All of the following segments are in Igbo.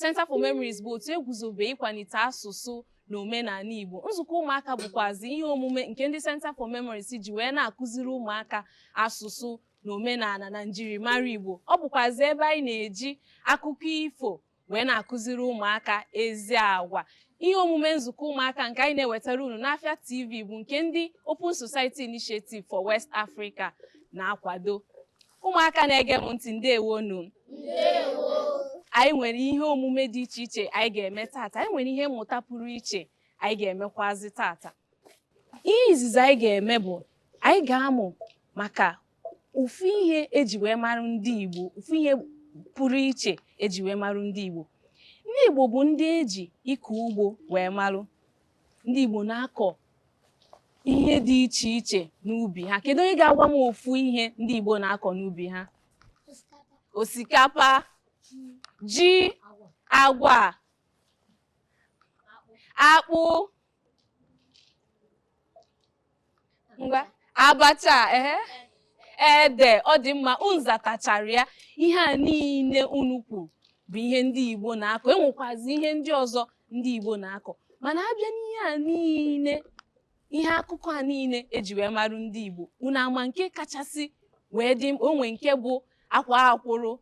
Center for Memories bụ otu eguzobe ịkwalite asụsụ na omenala Igbo nzukọ ụmụaka bụkwazi ihe omume nke ndị Center for Memories ji wee na-akụziri ụmụaka asụsụ na omenala na njirimara Igbo ọ bụkwazi ebe anyị na-eji akụkọ ifo wee na-akụziri ụmụaka ezi agwa ihe omume nzukọ ụmụaka nke anyị na-ewetara unu n'Afia TV bụ nke ndị Open Society Initiative for West Africa na-akwado Ụmụaka na-ege m ntị ndewo nu. Anyị nwere ihe omume dị iche iche anyị ga-eme tata. Anyị nwere ihe mmụta pụrụ iche anyị ga-emekwazi tata. Ihe izizi anyị ga-eme bụ anyị ga-amụ maka ofu ihe eji wee mara ndị Igbo, ofu ihe pụrụ iche eji wee mara ndị Igbo. Ndị Igbo bụ ndị eji ịkọ ugbo wee marụ. ndị Igbo na-akọ ihe dị iche iche n'ubi ha kedu onye ga-agwa m ofu ihe ndị Igbo na-akọ n'ubi ha osikapa ji agwa akpụ ngwa abacha ehe ede ọ dị mma unu zatachara ya ihe a niile unu kwuru bụ ihe ndị Igbo na-akọ enwekwazi ihe ndị ọzọ ndị Igbo na-akọ mana abịa n'ihe a niile ihe akụkọ a niile eji wee marụ ndị Igbo unu ama nke kachasị wee dị mkpa o nwe nke bụ akwa akwụrụ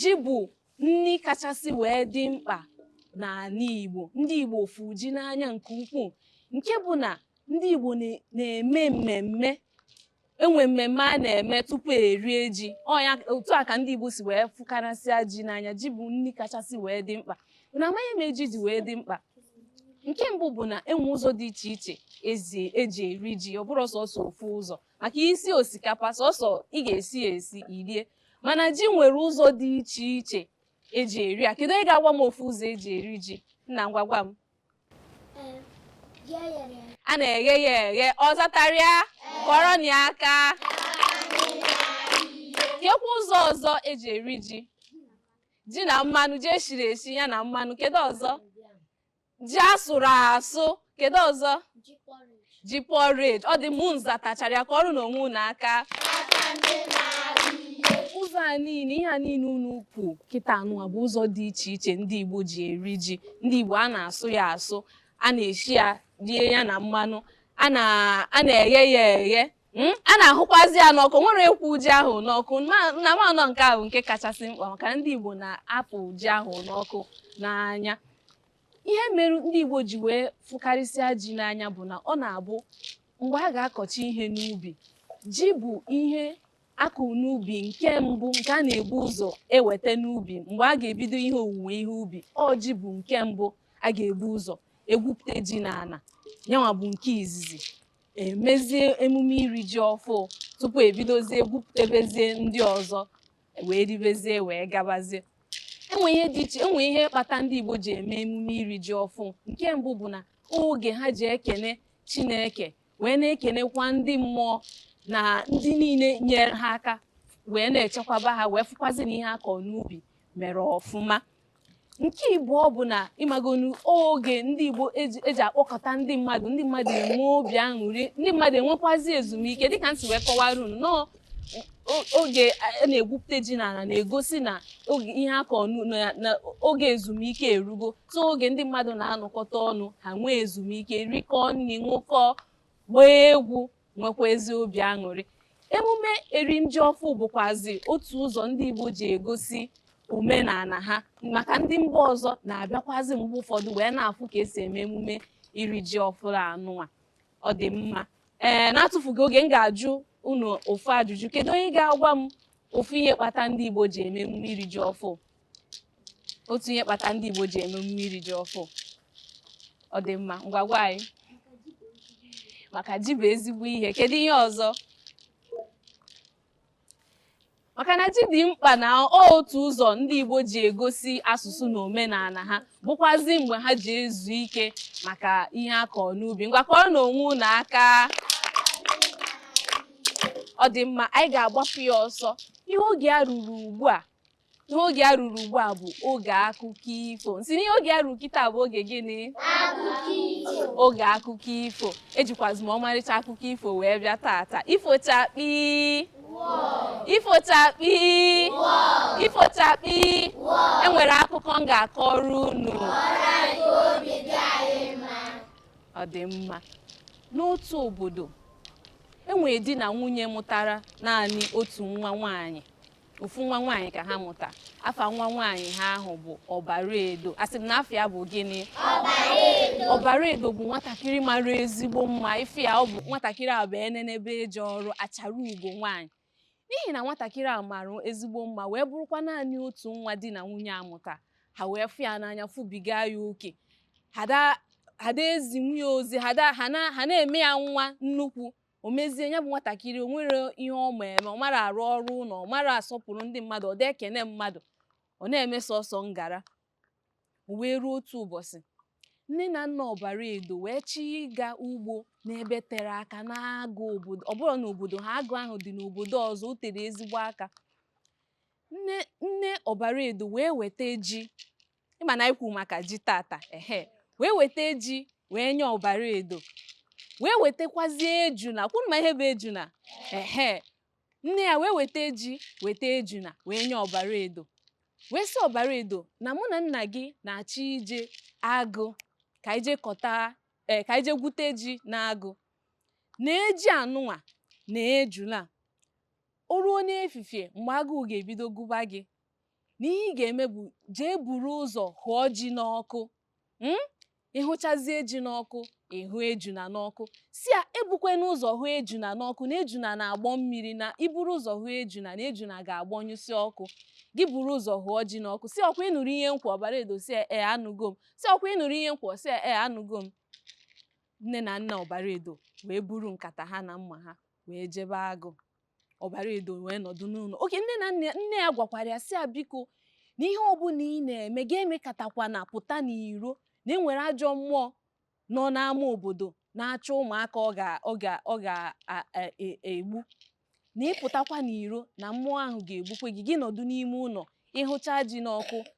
Ji bụ nri kachasị wee dị mkpa n'ala Igbo. Ndị Igbo fụ ji n'anya nke ukwuu nke bụ na ndị Igbo na-eme mmemme enwe mmemme a na-eme tupu erie ji otu a ka ndị Igbo si wee fụkarasịa ji n'anya ji bụ nri kachasị wee dị mkpa unu ama ihe me ji ji wee dị mkpa nke mbụ bụ na enwe ụzọ dị iche iche eji eri ji ọ bụrọ sọsọ ofu ụzọ maka isi osikapa sọsọ ị ga-esi ya esi i rie mana ji nwere ụzọ dị iche iche eji eri ya kedu onye ga-agwa m ofu ụzọ eji eri ji nna ngwa gwa m a na-eghe ya eghe ọ zatara ya kụọrọnụ ya aka kekwa ụzọ ọzọ eji eri ji ji na mmanụ ji eshiri eshi ya na mmanụ kedu ọzọ ji asụrụ asụ kedu ọzọ ji porridge ọ dị mma unu zatachara ya kụọrọnụ onwe unu aka ụzọ a niile ihe a niile unu kwu kịta anụwa bụ ụzọ dị iche iche ndị Igbo ji eri ji ndị Igbo a na-asụ ya asụ a na-eshi ya rie ya na mmanụ a na-eghe ya eghe Hmm? a na-ahụkwazi ya n'ọkụ nwerekwu ji ahụ n'ọkụ na mmanụ nke ahụ nke kachasị mkpa maka ndị Igbo na-afụ ji ahụ n'ọkụ n'anya ihe mere ndị Igbo ji wee fụkarịsịa ji n'anya bụ na ọ na-abụ mgbe a ga-akọcha ihe n'ubi ji bụ ihe akụ n'ubi nke mbụ nke a na-ebu ụzọ eweta n'ubi mgbe a ga-ebido ihe owuwe ihe ubi ọ ji bụ nke mbụ a ga-ebu ụzọ egwupụta ji n'ala yanwa bụ nke izizi emezie emume iri ji ọfụ tupu ebidozie gwupụtebezie ndị ọzọ wee ribezie wee gabazie enwe ihe dị iche enwe ihe kpata ndị Igbo ji eme emume iri ji ọfụ nke mbụ bụ na oge ha ji ekene Chineke wee na-ekenekwa ndị mmụọ na ndị niile nyere ha aka wee na-echekwaba ha wee fụkwazi na ihe a kọ n'ubi mere ọfụma nke ịbụọ bụ na ịmagonu oge ndị igbo eji akpọkọta ndị mmadụ ndị mmadụ enwe obi aṅụrị ndị mmadụ enwekwazi ezumike dịka m si wee kọwara unu na oge a na-egwupụta ji n'ala na-egosi na oge ihe a kọ na oge ezumike erugo so oge ndị mmadụ na-anọkọta ọnụ ha nwee ezumike rikọọ nri ṅụkọọ gbaa egwu nwekwa ezi obi aṅụrị emume erim ji ọfụ bụkwazi otu ụzọ ndị Igbo ji egosi omenala ha maka ndị mba ọzọ na-abịakwazi mgbe ụfọdụ wee na-afụ ka esi eme emume iri ji ọfụrụ anụnwa ọ dị mma ee n'atụfughị oge m ga-ajụ unu ofu ajụjụ kedu onye ga-agwa m ofu ihe kpata ndị Igbo ji eme emume iri ji ọfụ otu ihe kpata ndị Igbo ji eme emume iri ji ọfụ ọ dị mma ngwa gwa anyị maka ji bụ ezigbo ihe kedu ihe ọzọ maka na ji dị mkpa na otu ụzọ ndị Igbo ji egosi asụsụ na omenala ha bụkwazi mgbe ha ji ezu ike maka ihe a kọrọ n'ubi ngwa kụọrọnụ onwe unu aka ọ dị mma anyị ga-agbapụ ya ọsọ ihe oge a ruru ugbu a ihe oge a ruru ugbu a bụ oge akụkọ ifo m sị na ihe oge a ruru kịta bụ oge gịnị oge akụkọ ifo ejikwazi m ọmarịcha akụkọ ifo wee bịa tata ifo chakpii ifo chakpii ifo chakpii enwere akụkọ m ga-akọrọ unu ọ dị mma n'otu obodo e nwere di na nwunye mụtara naanị otu nwa nwaanyị ofu nwa nwaanyị ka ha mụta afa nwa nwaanyị ha ahụ bụ Ọbaraedo asị m na afa ya bụ gịnị Ọbaraedo bụ nwatakịrị mara ezigbo mma ife ya ọ bụ nwatakịrị a bụ enenebe eje ọrụ achara ugo nwaanyị n'ihi na nwatakịrị a mara ezigbo mma wee bụrụkwa naanị otu nwa di na nwunye a mụta ha wee fụ ya n'anya fụbiga ya oke ha ada ezi nwunye ozi ha na-eme ya nwa nnukwu o mezie ya bụ nwatakịrị o nwerọ ihe ọ ma eme ọ marọ arụ ọrụ ụlọ ọ marọ asọpụrụ ndị mmadụ ọ da ekene mmadụ ọ na-eme sọsọ ngara wee ruo otu ụbọchị nne na nna ọbara edo wee chọọ ịga ugbo n'ebe tere aka n'agụ obodo ọ bụrọ n'obodo ha agụ ahụ dị n'obodo ọzọ o tere ezigbo aka nne nne ọbara edo wee weta ji ị ma na anyị kwuru maka ji tata ehe wee weta ji wee nye ọbara edo wee wetakwazie ejuna ọ kwa unu ma ihe bụ ejuna ehe nne ya wee weta ji weta ejuna wee nye ọbara edo wee sị ọbara edo na mụ na nna gị na-achọ ije agụ ka ije kọta ee eh, ka ije gwute ji n'agụ nee ji anụnwa na ejula o ruo n'efifie mgbe agụụ ga-ebido gụba gị na ihe ị ga-eme bụ jee buru ụzọ hụọ ji n'ọkụ Hmm? ị hụchazie ji n'ọkụ ị hụ ejuna n'ọkụ sị ya ebukwana ụzọ hụ ejuna n'ọkụ na ejuna na-agbọ mmiri na i buru ụzọ hụ ejuna na ejuna ga-agbọnyụsị ọkụ gị buru ụzọ hụọ ji n'ọkụ sị ọ kwa ị nụrụ ihe m kwu ọbara edo sị ya ee anụgo m sị ọ kwa ị nụrụ ihe m kwu sị ya ee anụgo m nne na nna ọbara edo wee buru nkata ha na mma ha wee jebe agụ ọbara edo wee nọdụ n'ụlọ okay nne na nne nne ya gwakwara ya sị ya biko na ihe ọbụla ị na-eme gị emekatakwana pụta n'iro na e nwere ajọ mmụọ nọ n'ama obodo na-achọ ụmụaka ọ ga ọ ga ọ ga-egbu e, na ị pụtakwa n'iro na mmụọ ahụ ga-egbukwe gị gị nọdụ n'ime ụlọ ị hụcha ji n'ọkụ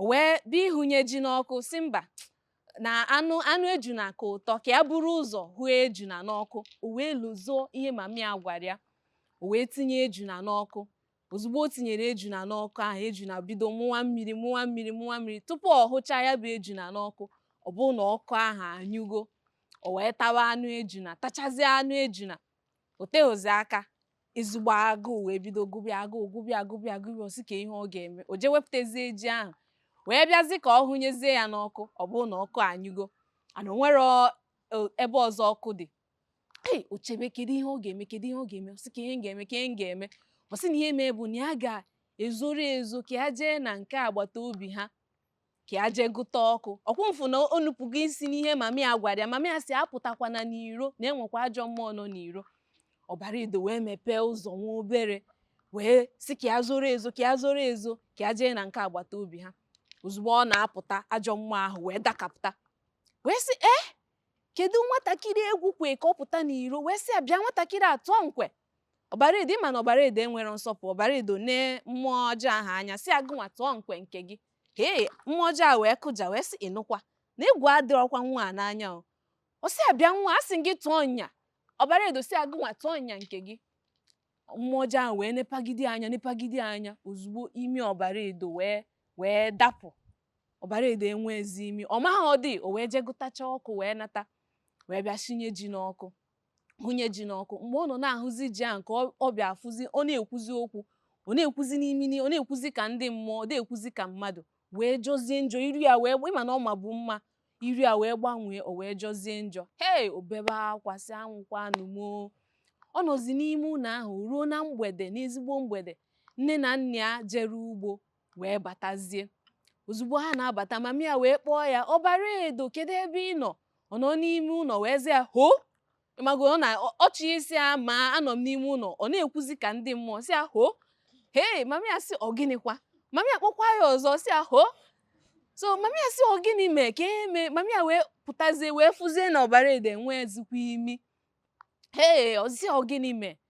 o wee bịa ịhụnye ji n'ọkụ sị mba na anụ anụ ejuna ka ụtọ ka ya buru ụzọ hụ ejuna n'ọkụ o wee lozoo ihe mami ya gwara ya o wee tinye ejuna n'ọkụ ozugbo o tinyere ejuna n'ọkụ ahụ ejuna bido mụwa mmiri mụwa mmiri mụwa mmiri tupu ọ hụchaa ya bụ ejuna n'ọkụ ọ bụrụ na ọkụ ahụ anyụgo o wee tawa anụ ejuna tachazie anụ ejuna o teghịzi aka ezigbo agụụ wee bido gụba ya agụụ gụba ya gụba ya gụba ya ọ sị kee ihe ọ ga-eme o jee wepụtazie ji ahụ wee bịazi ka ọ hụnyezie ya n'ọkụ ọ bụrụ na ọkụ anyụgo and o nwerọ ebe ọzọ ọkụ dị ei o chebe kedu ihe ọ ga-eme kedu ihe ọ ga-eme ọ sị kee ihe m ga-eme kee ihe m ga-eme ọ sị na ihe mee bụ na ya ga-ezoro ezo ka ya jee na nke agbata obi ha ka ya jee gụta ọkụ ọ kwa unu fụ na o nupụgo isi n'ihe mami ya gwara ya mami ya sị apụtakwana n'iro na e nwekwa ajọ mmụọ nọ n'iro ọbara edo wee mepee ụzọ nwa obere wee sị ka ya zoro ezo ka ya zoro ezo ka ya jee na nke agbata obi ha ozugbo ọ na-apụta ajọ mmụọ ahụ wee dakapụta wee sị ee eh, kedu nwatakịrị egwu kwe ka ọ pụta n'iro wee sị ya bịa nwatakịrị atụọ nkwe ọbara edo ịma na ọbara edo enwerọ nsọpụrụ ọbara edo nee mmụọ ọjọọ ahụ anya sị ya gụnwa tụọ nkwe nke gị hee mmụọ ọjọọ a wee kụja wee sị ịnụkwa na egwu adịrọkwa nwa a n'anya o ọ sị ya bịa nwa a sị gị tụọ nya ọbara edo sị ya gụnwa tụọ nya nke gị mmụọ ọjọọ ahụ wee nepagide anya nepagide anya ozugbo imi ọbara edo wee wee dapụ ọbara edo enwezi imi ọ marọdị o wee jee gụtacha ọkụ wee nata wee bịa sinye ji n'ọkụ hụnye ji n'ọkụ mgbe ọ nọ na-ahụzi ji ahụ ka ọ- ọ bịa afụzi ọ na-ekwuzi okwu ọ na-ekwuzi n'imi n'i- ọ na-ekwuzi ka ndị mmụọ ọ na-ekwuzi ka mmadụ wee jọzie njọ iru ya wee ịma na ọ mabu mma iru ya wee gbanwee o wee jọzie njọ hei o bebe akwa sị anwụkwanụ m o." ọ nọzi n'ime ụlọ ahụ ruo na mgbede n'ezigbo mgbede nne na nna ya jere ugbo wee batazie ozugbo ha na-abata mami ya wee kpọọ ya ọbara edo kedu ebe ị nọ ọ nọ n'ime ụlọ wee sị ya ho ịmago ọ na-achọ ịsị ya ma anọ m n'ime ụlọ ọ na-ekwuzi ka ndị mmụọ sị ya ho hei mami ya sị ọ gịnịkwa mami ya kpọkwa ya ọzọ sị ya ho so mami ya sị ọ gịnị mee ka e mee mami ya wee pụtazie wee fụzie na ọbara edo enwezikwa imi hee ọ sị ọ gịnị mee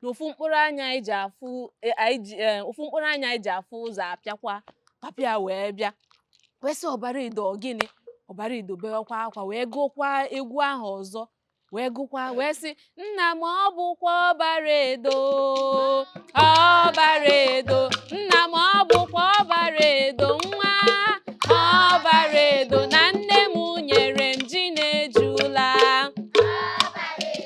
na ofu mkpụrụ anya anyị ji afụ e, anyị ji e, ofu mkpụrụ anya anyị ji afụ ụzọ apịakwa papa ya wee bịa wee sị ọbara edo ọ gịnị ọbara edo bewakwa akwa wee gụkwa egwu ahụ ọzọ wee gụkwa wee sị nna m ọ bụkwa ọbara edo ọbara edo nna m ọ bụkwa ọbara edo nwa ọbara edo na nne m nyere m ji na ejula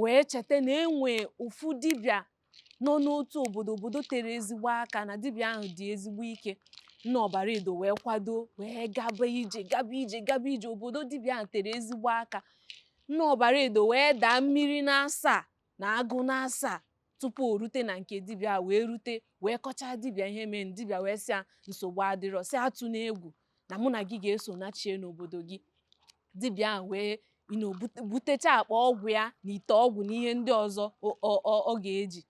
wee cheta na e nwee ofu dibịa nọ n'otu obodo obodo tere ezigbo aka na dibịa ahụ dị ezigbo ike nna ọbara edo wee kwado wee gaba ije gaba ije gaba ije obodo dibịa ahụ tere ezigbo aka nna ọbara edo wee daa mmiri n'asaa na agụ n'asaa tupu o rute na nke dibịa wee rute wee kọchaa dibịa ihe mere dibịa wee sị ya nsogbu adịrọ sị ya atụna egwu na mụ na gị ga-eso nachie n'obodo gị dibịa ahụ wee you know butecha akpa ọgwụ ya na ite ọgwụ na ihe ndị ọzọ ọ ga-eji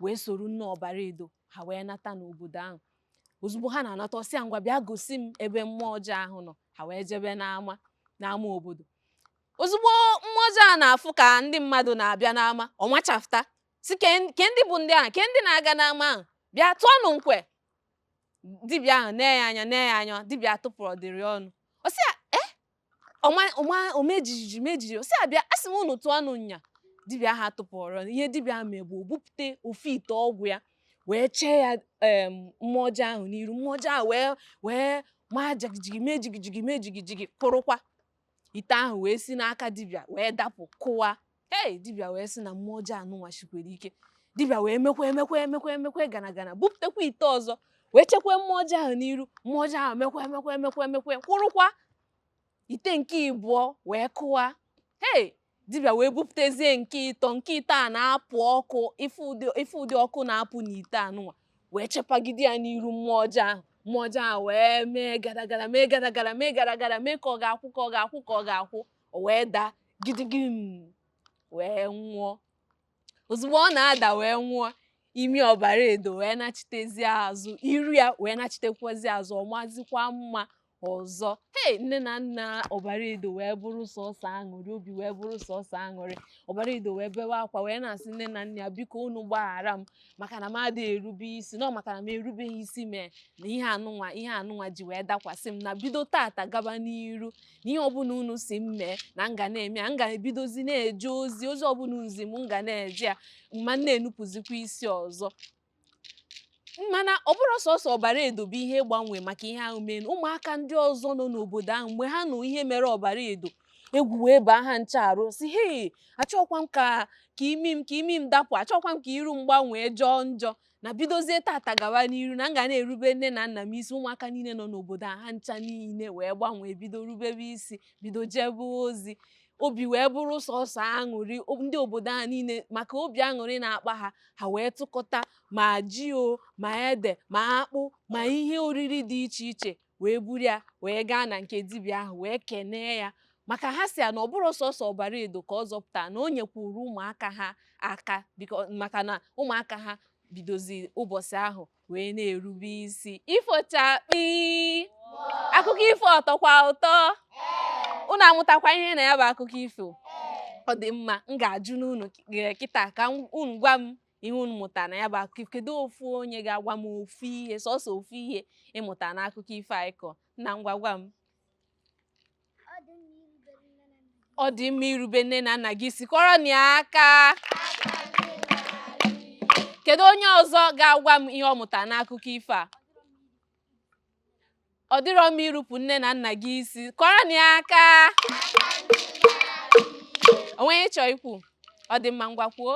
wee soro nne ọbara edo ha wee nata n'obodo ahụ ozugbo ha na-anata ọ sị ya ngwa bịa gosi m ebe mmụọ ọjọọ ahụ nọ ha wee jebe n'ama n'ama obodo ozugbo mmụọ ọjọọ a na-afụ ka ndị mmadụ na-abịa n'ama ọ machafụta sị ke ndị bụ ndị ahụ ke ndị na-aga n'ama ahụ bịa tụọnụ nkwe dibịa ahụ nee ya anya nee ya anya dibịa atụpụrọdịrị ọnụ ọ sị ya e ọ maa ọ maa o mee jijiji mee jijiji ọ sị ya bịa asị m unu tụọnụ nya dibịa ahụ atụpụrọ ọnụ ihe dibịa ahụ mee bụ o bupụta ofu ite ọgwụ ya wee chee ya em, mmụọ ọjọọ ahụ n'iru mmụọ ọjọọ ahụ wee wee maa jigijigi mee jigijigi mee jigijigi kwụrụkwa ite ahụ wee si n'aka dibịa wee dapụ kụwa hei dibịa wee sị na mmụọ ọjọọ anụnwa shikwere ike dibịa wee mekwa emekwa emekwa emekwa gana gana bupụtakwa ite ọzọ wee chekwa mmụọ ọjọọ ahụ n'iru mmụọ ọjọọ ahụ mekwa emekwa emekwa emekwa kwụrụkwa ite nke ịbụọ wee kụwa hei dibịa wee bupụtezie nke ịtọ nke ite a na-apụ ọkụ ife ụdị ọkụ na-apụ n'ite anụnwa wee chepagide ya n'iru mmụọ ọjọọ ahụ mmụọ ọjọọ ahụ wee mee gadagada mee gadagada mee gadagada mee ka ọ ga-akwụ ka ọ ga-akwụ ka ọ ga-akwụ o wee daa gidigim wee nwụọ ozugbo ọ na-ada wee nwụọ imi ọbara edo wee nachitezi azụ iru ya wee nachitekwazi azụ ọ mazikwa mma ọzọ hei nne na nna ọbara edo wee bụrụ sọsọ aṅụrị obi wee bụrụ sọsọ aṅụrị ọbara edo wee bewe akwa wee na-asị nne na nna ya biko unu gbaghara m maka na m adịghị erube isi na ọ maka na m erubeghị isi mee na ihe anụnwa ihe anụnwa ji wee dakwasị m na bido tata gaba n'iru na ihe ọbụla unu sị m mee na m ga na-eme ya m ga-ebidozi na-eje ozi ozi ọbụla unu zi m m ga na-eje ya m ma na-enupụzikwa isi ọzọ mana ọ bụrọ sọsọ ọbara edo bụ ihe gbanwe maka ihe ahụ mee ụmụaka ndị ọzọ nọ n'obodo ahụ mgbe ha nụ ihe mere ọbara edo egwu wee baa ha ncha arụ sị hei achọkwa m ka ka imi m ka imi m dapụ achọkwa m ka iru m gbanwee jọọ njọ na bidozie tata gawa n'iru na m ga na-erube nne na nna m isi ụmụaka niile nọ n'obodo a ha ncha niile wee gbanwee bido rubebe isi bido jebe ozi obi wee bụrụ sọsọ aṅụrị o- ndị obodo ahụ niile maka obi aṅụrị na-akpa ha ha wee tụkọta ma ji o ma ede ma akpụ ma ihe oriri dị iche iche wee buru ya wee gaa na nke dibịa ahụ wee kenee ya maka ha sị ya na ọ bụrọ sọsọ ọbara edo ka ọ zọpụta na o nyekwuru ụmụaka ha aka maka na ụmụaka ha bidozi ụbọchị ahụ wee na-erube isi ifo chakpi akụkọ ifo ọ tọkwa ụtọ unu amụtakwa ihe na ya bụ akụkọ ifo ọ dị mma m ga-ajụnụ unu kịta ka unu gwa m ihe unu mụtara na ya bụ akụkọ ifo kedu ofu onye ga-agwa m ofu ihe sọsọ ofu ihe ị mụta n'akụkọ ifo anyị kọ na ngwa gwa m ọ dị mma irube nne na nna gị isi kụọrọnụ ya aka kedu onye ọzọ ga-agwa m ihe ọ mụtara n'akụkọ ifo a ọ dịrọ mma irupụ nne na nna gị isi kụọrọnụ ya aka o nwe ihe ị chọ ikwu ọ dị mma ngwa kwuo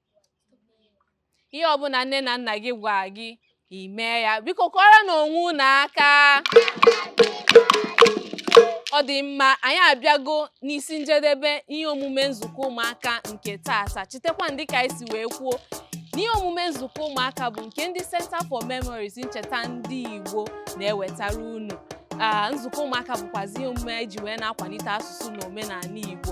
ihe ọbụla nne na nna gị gwa gị i mee ya biko kọrọ na onwe unu aka ọ dị mma anyị abịago n'isi njedebe ihe omume nzukọ ụmụaka nke taata chetakwanụ dị ka anyị si wee kwuo na ihe omume nzukọ ụmụaka bụ nke ndị Center for Memories ncheta ndị Igbo na-ewetara unu nzukọ ụmụaka bụkwazi ihe omume e ji wee na-akwalite asụsụ na omenala Igbo